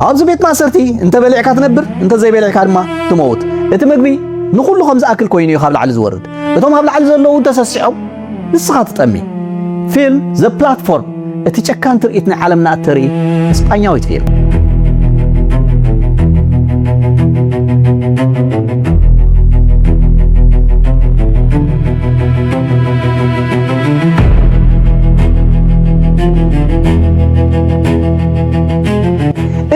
ኣብዚ ቤት ማእሰርቲ እንተ በሊዕካ ትነብር እንተ ዘይበሊዕካ ድማ ትመውት እቲ ምግቢ ንኹሉ ከም ዝኣክል ኮይኑ እዩ ካብ ላዕሊ ዝወርድ እቶም ኣብ ላዕሊ ዘለዉ ተሰሲዖም ንስኻ ትጠሚ ፊልም ዘ ፕላትፎርም እቲ ጨካን ትርኢት ናይ ዓለምና እተርኢ እስጳኛዊት ፊልም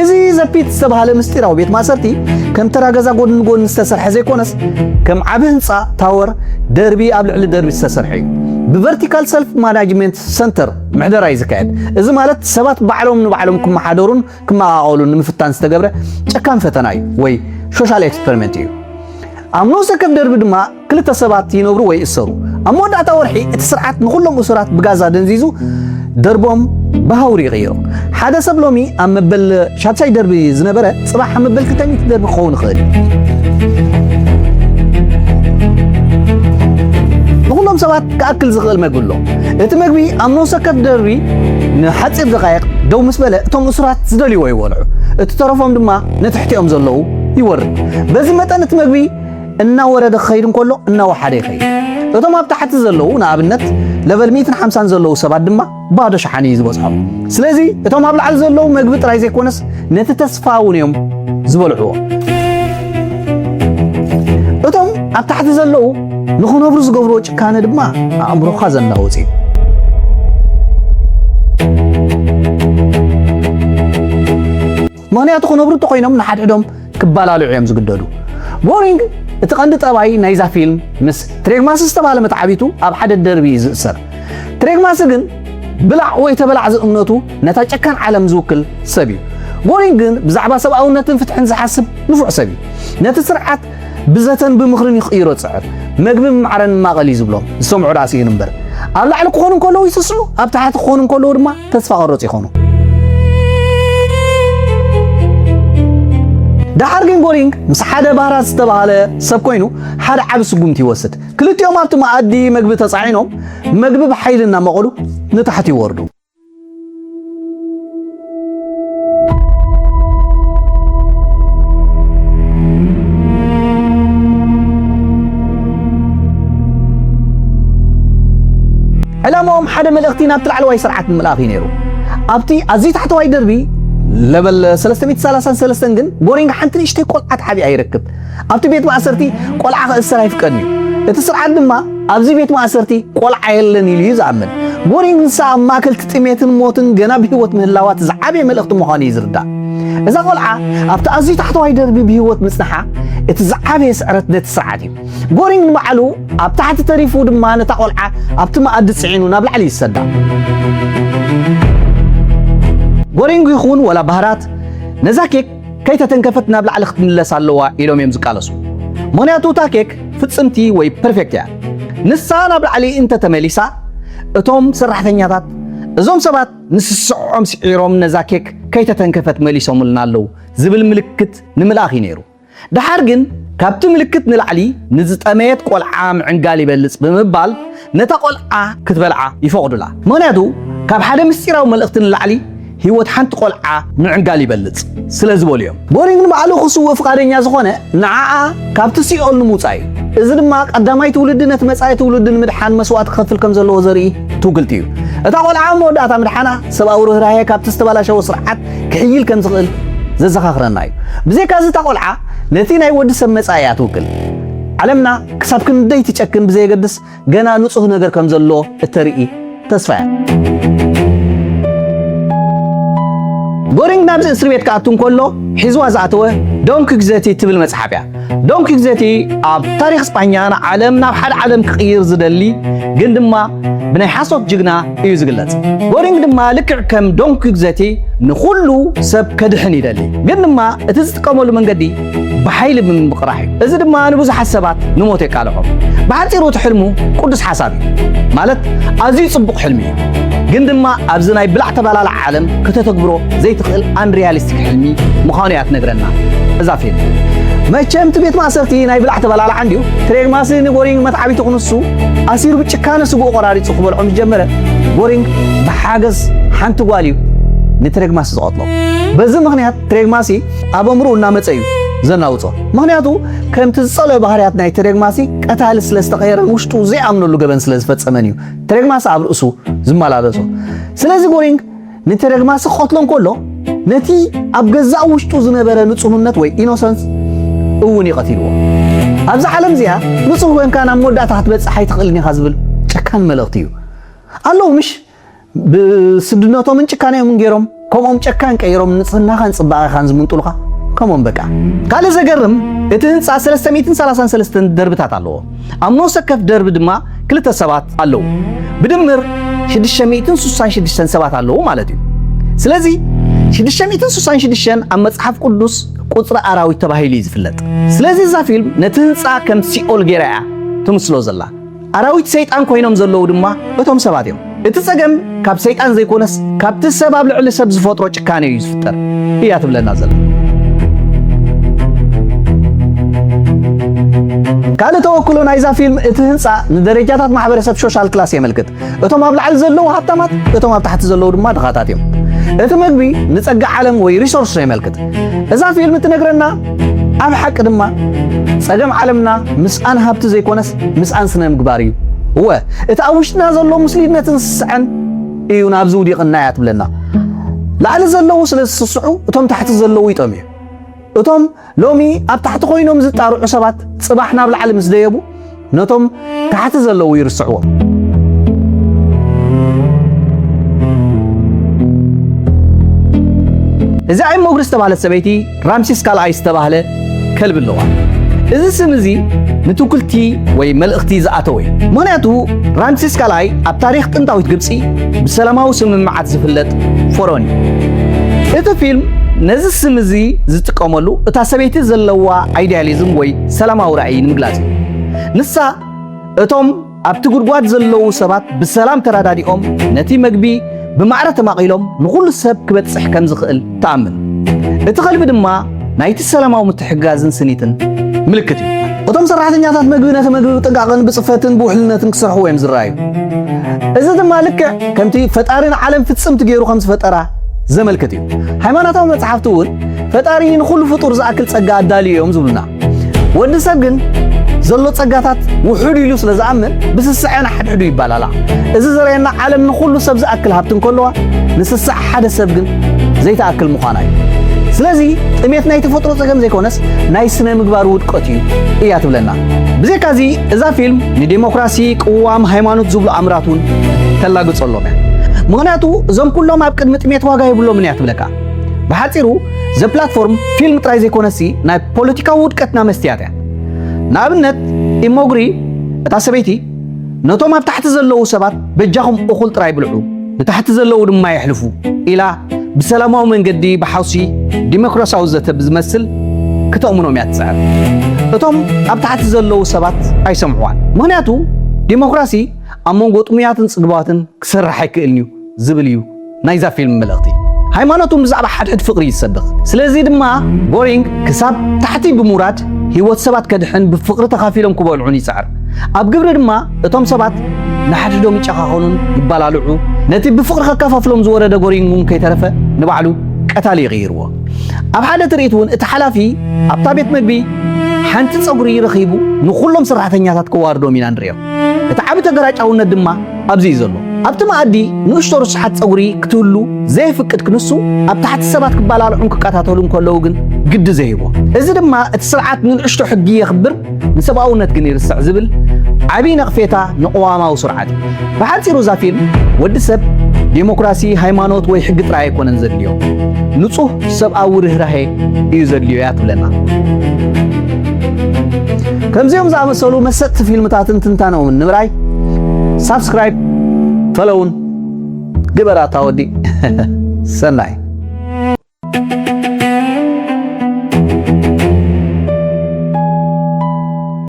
እዚ ዘፒት ዝተባህለ ምስጢራዊ ቤት ማእሰርቲ ከም ተራ ገዛ ጎድኒ ጎድኒ ዝተሰርሐ ዘይኮነስ ከም ዓቢ ህንጻ ታወር ደርቢ ኣብ ልዕሊ ደርቢ ዝተሰርሐ እዩ። ብቨርቲካል ሰልፍ ማናጅመንት ሰንተር ምሕደራ እዩ ዝካየድ። እዚ ማለት ሰባት ባዕሎም ንባዕሎም ክመሓደሩን ክመቓቐሉን ንምፍታን ዝተገብረ ጨካን ፈተና እዩ ወይ ሶሻል ኤክስፐሪመንት እዩ። ኣብ ነፍሲ ወከፍ ደርቢ ድማ ክልተ ሰባት ይነብሩ ወይ ይእሰሩ። ኣብ መወዳእታ ወርሒ እቲ ስርዓት ንኹሎም እሱራት ብጋዛ ደንዚዙ ደርቦም ብሃውሪ ይቕይሮ። ሓደ ሰብ ሎሚ ኣብ መበል ሻድሻይ ደርቢ ዝነበረ ጽባሕ ኣብ መበል ክልተ ሚእቲ ደርቢ ክኸውን ይኽእል እዩ። ንኹሎም ሰባት ክኣክል ዝኽእል መግቢ ኣሎ። እቲ መግቢ ኣብ ነፍሲ ወከፍ ደርቢ ንሓጺር ደቓይቕ ደው ምስ በለ እቶም እሱራት ዝደልይዎ ይበልዑ፣ እቲ ተረፎም ድማ ንትሕቲኦም ዘለዉ ይወርድ። በዚ መጠን እቲ መግቢ እናወረደ ክኸይድ እንከሎ እናወሓደ ይኸይድ። እቶም ኣብ ታሕቲ ዘለዉ ንኣብነት ለቨል ሚእትን ሓምሳን ዘለዉ ሰባት ድማ ባዶ ሸሓኒ እዩ ዝበጽሖም። ስለዚ እቶም ኣብ ላዕሊ ዘለዉ መግቢ ጥራይ ዘይኮነስ ነቲ ተስፋ እውን እዮም ዝበልዕዎ። እቶም ኣብ ታሕቲ ዘለዉ ንኽነብሩ ዝገብርዎ ጭካነ ድማ ኣእምሮኻ ዘናውጽ እዩ። ምኽንያቱ ክነብሩ እንተኾይኖም ንሓድሕዶም ክባላልዑ እዮም ዝግደዱ። ቦሪንግ እቲ ቀንዲ ጠባይ ናይዛ ፊልም ምስ ትሬግማሲ ዝተባህለ መትዓቢቱ ኣብ ሓደ ደርቢ እዩ ዝእሰር። ትሬግማሲ ግን ብላዕ ወይ ተበላዕ ዝእምነቱ ነታ ጨካን ዓለም ዝውክል ሰብ እዩ። ቦሪንግ ግን ብዛዕባ ሰብኣውነትን ፍትሕን ዝሓስብ ንፉዕ ሰብ እዩ። ነቲ ስርዓት ብዘተን ብምኽርን እዩ ክቕይሮ ዝጽዕር። መግቢ ብማዕረን ንማቐል እዩ ዝብሎ፣ ዝሰምዑ ደኣ ስኢኑ እምበር። ኣብ ላዕሊ ክኾኑ እንከለዉ ይስስዑ፣ ኣብ ታሕቲ ክኾኑ እንከለዉ ድማ ተስፋ ቀረጽ ይኾኑ። ደሓር ግን ጎሪንግ ምስ ሓደ ባህራት ዝተባህለ ሰብ ኮይኑ ሓደ ዓቢ ስጉምቲ ይወስድ። ክልቲኦም ኣብቲ መኣዲ መግቢ ተጻዒኖም መግቢ ብሓይሊ እናመቐሉ ንታሕቲ ይወርዱ። ዕላማኦም ሓደ መልእኽቲ ናብቲ ላዕለዋይ ስርዓት ንምልኣኽ እዩ ነይሩ ኣብቲ ኣዝዩ ታሕተዋይ ደርቢ ለበል 333 ግን ጎሪንግ ሓንቲ ንእሽተይ ቆልዓ ተሓቢኣ ይረክብ ኣብቲ ቤት ማእሰርቲ ቆልዓ ክእሰር ኣይፍቀድን እዩ። እቲ ስርዓት ድማ ኣብዚ ቤት ማእሰርቲ ቆልዓ የለን ኢሉ እዩ ዝኣምን። ጎሪን ንሳ ኣብ ማእከልቲ ጥሜትን ሞትን ገና ብህይወት ምህላዋ እቲ ዝዓበየ መልእኽቲ ምዃኑ እዩ ዝርዳእ። እዛ ቆልዓ ኣብቲ ኣዝዩ ታሕተዋይ ደርቢ ብህይወት ምጽንሓ እቲ ዝዓበየ ስዕረት ነቲ ስርዓት እዩ። ጎሪንግ ንባዕሉ ኣብ ታሕቲ ተሪፉ ድማ ነታ ቆልዓ ኣብቲ መኣዲ ጽዒኑ ናብ ላዕሊ ይሰዳ። ጎሪንግ ይኹን ወላ ባህራት ነዛ ኬክ ከይተተንከፈት ናብ ላዕሊ ክትምለስ ኣለዋ ኢሎም እዮም ዝቃለሱ። ምኽንያቱ እታ ኬክ ፍጽምቲ ወይ ፐርፌክት እያ። ንሳ ናብ ላዕሊ እንተ ተመሊሳ እቶም ሰራሕተኛታት እዞም ሰባት ንስስዐኦም ስዒሮም ነዛ ኬክ ከይተተንከፈት መሊሶምልና ኣለዉ ዝብል ምልክት ንምልኣኽ እዩ ነይሩ። ደሓር ግን ካብቲ ምልክት ንላዕሊ ንዝጠመየት ቆልዓ ምዕንጋል ይበልጽ ብምባል ነታ ቆልዓ ክትበልዓ ይፈቕዱላ። ምኽንያቱ ካብ ሓደ ምስጢራዊ መልእኽቲ ንላዕሊ ህይወት ሓንቲ ቆልዓ ምዕንጋል ይበልጽ ስለ ዝበሉ እዮም። ጎሪንግ ንባዕሉ ክስውእ ፍቓደኛ ዝኾነ ንዓኣ ካብቲ ሲኦል ንምውጻእ እዩ። እዚ ድማ ቀዳማይ ትውልዲ ነቲ መጻኢ ትውልዲ ንምድሓን መስዋእቲ ክኸፍል ከም ዘለዎ ዘርኢ ትውግልቲ እዩ። እታ ቆልዓ ኣብ መወዳእታ ምድሓና ሰብኣዊ ርህራሄ ካብቲ ዝተበላሸወ ስርዓት ክሕይል ከም ዝኽእል ዘዘኻኽረና እዩ። ብዘይካዚ እታ ቆልዓ ነቲ ናይ ወዲ ሰብ መጻኢ እያ ትውክል። ዓለምና ክሳብ ክንደይ ትጨክን ብዘየገድስ ገና ንጹህ ነገር ከም ዘሎ እተርኢ ተስፋ እያ። ጎሪንግ ናብዚ እስሪ ቤት ክኣቱ እንከሎ ሒዝዋ ዝኣተወ ዶን ኪግዘቲ ትብል መጽሓፍ እያ። ዶን ኪግዘቲ ኣብ ታሪኽ ስጳኛ ንዓለም ናብ ሓደ ዓለም ክቕይር ዝደሊ ግን ድማ ብናይ ሓሶት ጅግና እዩ ዝግለጽ። ጎሪንግ ድማ ልክዕ ከም ዶን ኪግዘቲ ንኹሉ ሰብ ከድሕን ይደሊ ግን ድማ እቲ ዝጥቀመሉ መንገዲ ብሓይሊ ብምምቕራሕ እዩ። እዚ ድማ ንብዙሓት ሰባት ንሞት የቃልዖም። ብሓጺሩ እቲ ሕልሙ ቅዱስ ሓሳብ እዩ፣ ማለት ኣዝዩ ጽቡቕ ሕልሚ እዩ። ግን ድማ ኣብዚ ናይ ብላዕ ተባላላዕ ዓለም ከተተግብሮ ዘይትኽእል ኣንሪያሊስቲክ ሕልሚ ምዃኑ እያ ትነግረና እዛ ፊልም። መቸም እቲ ቤት ማእሰርቲ ናይ ብላዕ ተባላላዕ እንድዩ። ክሬግ ማስሊን ጎሪንግ መትዓቢቱ ክንሱ ኣሲሩ ብጭካነ ስግኡ ቆራሪጹ ክበልዖ ምስ ጀመረ ጎሪንግ ብሓገዝ ሓንቲ ጓል እዩ ንትሬግማስ ዝቐትሎ። በዚ ምኽንያት ተደግማሲ ኣብ ኣእምሮኡ እናመፀ እዩ ዘናውፆ ምክንያቱ ከምቲ ዝፀልኦ ባህርያት ናይ ተደግማሲ ቀታሊ ስለ ዝተቐየረን ውሽጡ ዘይኣምነሉ ገበን ስለ ዝፈፀመን እዩ ተደግማሲ ኣብ ርእሱ ዝመላለሶ ስለዚ ጎሪንግ ንተደግማሲ ክቐትሎ እንከሎ ነቲ ኣብ ገዛእ ውሽጡ ዝነበረ ንጹህነት ወይ ኢኖሰንስ እውን እዩ ቀቲልዎ ኣብዚ ዓለም እዚኣ ንጹህ ኮንካ ናብ መወዳእታ ክትበጽሕ ኣይትኽእልን ኢኻ ዝብል ጨካን መልእኽቲ እዩ ኣለዉ ምሽ ብስድነቶምን ጭካኔኦምን ገይሮም ከምኦም ጨካን ቀይሮም ንጽህናኻን ጽባቐኻን ዝምንጥሉኻ ከምኦም በቃ። ካልእ ዘገርም እቲ ህንጻ 333 ደርብታት ኣለዎ። ኣብ ነፍሲ ወከፍ ደርቢ ድማ ክልተ ሰባት ኣለዉ። ብድምር 666 ሰባት ኣለዉ ማለት እዩ። ስለዚ 666 ኣብ መጽሓፍ ቅዱስ ቁጽሪ ኣራዊት ተባሂሉ እዩ ዝፍለጥ። ስለዚ እዛ ፊልም ነቲ ህንጻ ከም ሲኦል ገይራ እያ ትምስሎ ዘላ። ኣራዊት ሰይጣን ኮይኖም ዘለዉ ድማ እቶም ሰባት እዮም። እቲ ጸገም ካብ ሰይጣን ዘይኮነስ ካብቲ ሰብ ኣብ ልዕሊ ሰብ ዝፈጥሮ ጭካኔ እዩ ዝፍጠር እያ ትብለና ዘላ። ካልእ ተወክሎ ናይዛ ፊልም እቲ ህንጻ ንደረጃታት ማሕበረሰብ ሾሻል ክላስ የመልክት። እቶም ኣብ ላዕሊ ዘለዉ ሃብታማት፣ እቶም ኣብ ታሕቲ ዘለዉ ድማ ድኻታት እዮም። እቲ መግቢ ንጸጋ ዓለም ወይ ሪሶርስ የመልክት። እዛ ፊልም እትነግረና ኣብ ሓቂ ድማ ጸገም ዓለምና ምስኣን ሃብቲ ዘይኮነስ ምስኣን ስነ ምግባር እዩ እወ እቲ ኣብ ውሽጥና ዘሎ ሙስሊነትን ስስዐን እዩ ናብዚ ውዲቕና እያ ትብለና ላዕሊ ዘለዉ ስለ ዝስስዑ እቶም ታሕቲ ዘለዉ ይጠምዩ እቶም ሎሚ ኣብ ታሕቲ ኮይኖም ዝጣርዑ ሰባት ጽባሕ ናብ ላዕሊ ምስ ደየቡ ነቶም ታሕቲ ዘለዉ ይርስዕዎም እዛ እሞ እግሪ ዝተባህለት ሰበይቲ ራምሲስ ካልኣይ ዝተባህለ ከልቢ ኣለዋ። እዚ ስም እዚ ንትውክልቲ ወይ መልእኽቲ ዝኣተወ እዩ። ምኽንያቱ ራምሲስ ካልኣይ ኣብ ታሪኽ ጥንታዊት ግብጺ ብሰላማዊ ስምምዓት ዝፍለጥ ፎሮን እዩ። እቲ ፊልም ነዚ ስም እዚ ዝጥቀመሉ እታ ሰበይቲ ዘለዋ ኣይዲያሊዝም ወይ ሰላማዊ ራእይ ንምግላጽ እዩ። ንሳ እቶም ኣብቲ ጉድጓድ ዘለዉ ሰባት ብሰላም ተረዳዲኦም ነቲ መግቢ ብማዕረ ተማቒሎም ንዅሉ ሰብ ክበጽሕ ከም ዝኽእል ትኣምን። እቲ ከልቢ ድማ ናይቲ ሰላማዊ ምትሕግጋዝን ስኒትን ምልክት እዩ። እቶም ሰራሕተኛታት መግቢ ነቲ መግቢ ብጥንቃቐን ብጽፈትን ብውሕልነትን ክሰርሕዎ እዮም ዝረኣዩ፣ እዚ ድማ ልክዕ ከምቲ ፈጣሪ ንዓለም ፍጽምቲ ገይሩ ከም ዝፈጠራ ዘመልክት እዩ። ሃይማኖታዊ መጽሓፍቲ እውን ፈጣሪ ንዅሉ ፍጡር ዝኣክል ጸጋ ኣዳልዩ እዮም ዝብሉና። ወዲ ሰብ ግን ዘሎ ጸጋታት ውሑድ ኢሉ ስለ ዝኣምን ብስስዐ ንሓድሕዱ ይባላላ እዚ ዘርእየና ዓለም ንኹሉ ሰብ ዝኣክል ሃብቲ እንከለዋ ንስስዐ ሓደ ሰብ ግን ዘይተኣክል ምዃና እዩ ስለዚ ጥሜት ናይ ተፈጥሮ ጸገም ዘይኮነስ ናይ ስነ ምግባር ውድቀት እዩ እያ ትብለና ብዘይካዚ እዛ ፊልም ንዴሞክራሲ ቅዋም ሃይማኖት ዝብሉ ኣምራት እውን ተላግጸሎም እያ ምክንያቱ እዞም ኩሎም ኣብ ቅድሚ ጥሜት ዋጋ የብሎምን እያ ትብለካ ብሓጺሩ ዘፕላትፎርም ፊልም ጥራይ ዘይኮነሲ ናይ ፖለቲካዊ ውድቀትና መስትያት እያ። ንኣብነት ኢሞግሪ እታ ሰበይቲ ነቶም ኣብ ታሕቲ ዘለዉ ሰባት በጃኹም እኹል ጥራይ ብልዑ ንታሕቲ ዘለዉ ድማ የሕልፉ ኢላ ብሰላማዊ መንገዲ ብሓውሲ ዲሞክራሲያዊ ዘተ ብዝመስል ክተእምኖም እያ ትጽዕር። እቶም ኣብ ታሕቲ ዘለዉ ሰባት ኣይሰምዕዋን። ምክንያቱ ዲሞክራሲ ኣብ መንጎ ጥሙያትን ጽግባትን ክሰርሕ ኣይክእልን እዩ። ዝብል እዩ ናይዛ ፊልም መልእኽቲ። ሃይማኖት እውን ብዛዕባ ሓድሕድ ፍቕሪ እዩ ዝሰብኽ። ስለዚ ድማ ጎሪንግ ክሳብ ታሕቲ ብምውራድ ህይወት ሰባት ከድሕን ብፍቕሪ ተኻፊሎም ክበልዑን ይጽዕር። ኣብ ግብሪ ድማ እቶም ሰባት ንሓድሕዶም ይጨኻኸኑን ይባላልዑ። ነቲ ብፍቕሪ ከካፋፍሎም ዝወረደ ጎሪንግ እውን ከይተረፈ ንባዕሉ ቀታሊ ይቕይርዎ። ኣብ ሓደ ትርኢት እውን እቲ ሓላፊ ኣብታ ቤት መግቢ ሓንቲ ጸጉሪ ረኺቡ ንኹሎም ሰራሕተኛታት ከዋርዶም ኢና ንርእዮ። እቲ ዓቢ ተገራጫውነት ድማ፣ ኣብዚ እዩ ዘሎ። ኣብቲ መኣዲ ንእሽቶ ርስሓት ጸጉሪ ክትህሉ ዘየፍቅድ ክንሱ፣ ኣብ ታሕቲ ሰባት ክበላልዑን ክቀታተሉን ከለዉ ግን ግዲ ዘይህቦ። እዚ ድማ እቲ ስርዓት ንንእሽቶ ሕጊ የኽብር ንሰብኣውነት ግን ይርስዕ ዝብል ዓቢ ነቕፌታ ንቕዋማዊ ስርዓት እዩ። ብሓጺሩ እዛ ፊልም ወዲ ሰብ ዴሞክራሲ፣ ሃይማኖት ወይ ሕጊ ጥራይ ኣይኮነን ዘድልዮ፣ ንጹህ ሰብኣዊ ርህራሄ እዩ ዘድልዮ እያ ትብለና። ከምዚኦም ዝኣመሰሉ መሰጥቲ ፊልምታትን ትንታነኦምን ንምርኣይ ሳብስክራይብ ፈለውን ግበር ኣታ ወዲ ሰናይ